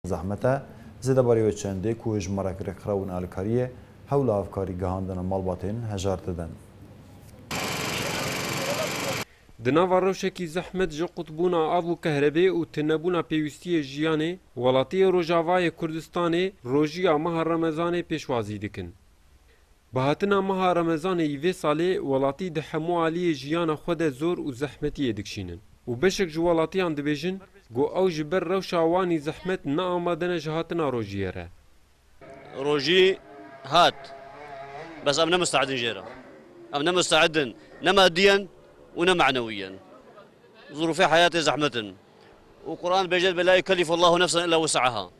Zehmet e, zêde barê wê çendê ku ji marek rêkxrew û nealîkarî yê, hewla hevkarî gihandina malbatên hejar didin. Di nava rewşekî zehmet ji qutbûna av û kehrebê û tunebûna pêwîstiyê jiyanê, welatiyê Rojavayê Kurdistanê rojiya meha Remezanê pêşwazî dikin. Bi hatina meha Remezanê yî vê salê welatî di hemû aliyê jiyana xwe de zor û zehmetiyê dikişînin û beşek ji welatiyan dibêjin ku ew ji ber rewşa wan î zehmet ne amade ne ji hatina rojiyê re. Rojî hat bes em ne musteedin jê re. Em ne musteedin ne madiyen û ne manewiyen. Zurûfê heyatê zehmet in û Quran dibêje belâ yukellifullahu nefsen illa wuse'eha.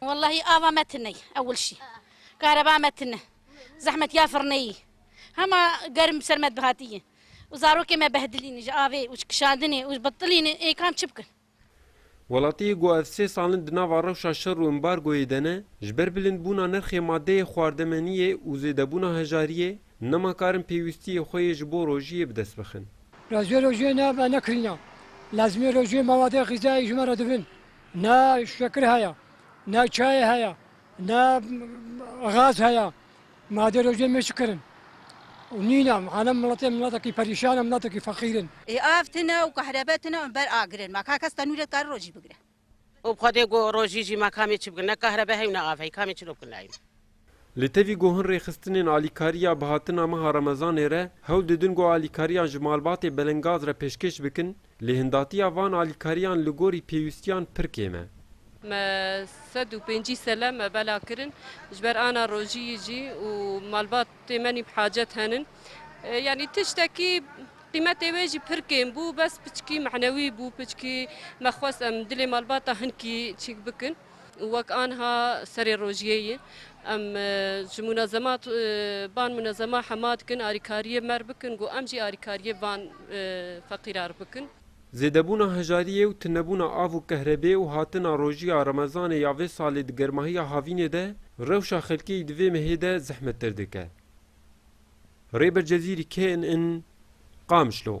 Wellahî ava me tune ye ewil şî. Kareba me tune. Zehmetiya firneyî. Hema germ bi ser me dihatiye. Û zarokê me behdilîne ji avê û ji kişandinê û ji bitilînê ê kam çi bikin. Welatiyê ku ev sê sal in di nava rewşa şer û embargoyê de ne, ji ber bilindbûna nirxê madeyê xwardemeniyê û zêdebûna hejariyê, nema kar in pêwîstiyê xwe yê ji bo rojiyê bi dest bixin. Rojê rojê ne, me nekirîna. Lezmê rojê mewade xîzayî ji me re dibin. Ne şekir heye, ne çayê heye, ne gaz heye. Ma dê rojê me çi kirin? Û nîne hane miletê miletekî perîşan e, miletekî feqîr in. Ê av tune û kahrebe tune û ber agirin. Ma ka kes tenûrê dikare rojî bigire. Û bi xwe dê got rojî jî ma kamê çi bikin? Ne kahrebe hey û ne av hey. Kamê çi do bikin nayîn? Li tevî ku hin rêxistinên alîkariya bihatina meha remezanê re hewl didin ku alîkariyan ji malbatê Belengaz re pêşkêş bikin, lêhindatiya van alîkariyan li gorî pêwîstiyan pir kêm e. Me sed û pêncî sele me bela kirin ji ber ana rojî jî û malbatê me nîv hacet henin. Yanî tiştekî qîmetê wê jî pir kêm bû, bes piçikî mehnewî bû, piçikî me xwest em dilê malbata hin kî çîk bikin. Wek anha serê rojiyê yê. Em ji munezemat ban munezema hema dikin arîkariyê me re bikin ku em jî arîkariyê van feqîra re bikin. Zêdebûna hejariyê û tunebûna av û kehrebê û hatina rojiya remezanê ya vê salê di germahiya havînê de rewşa xelkê di vê mehê de zehmettir dike. Rêber Cezîrî knn, Qamişlo.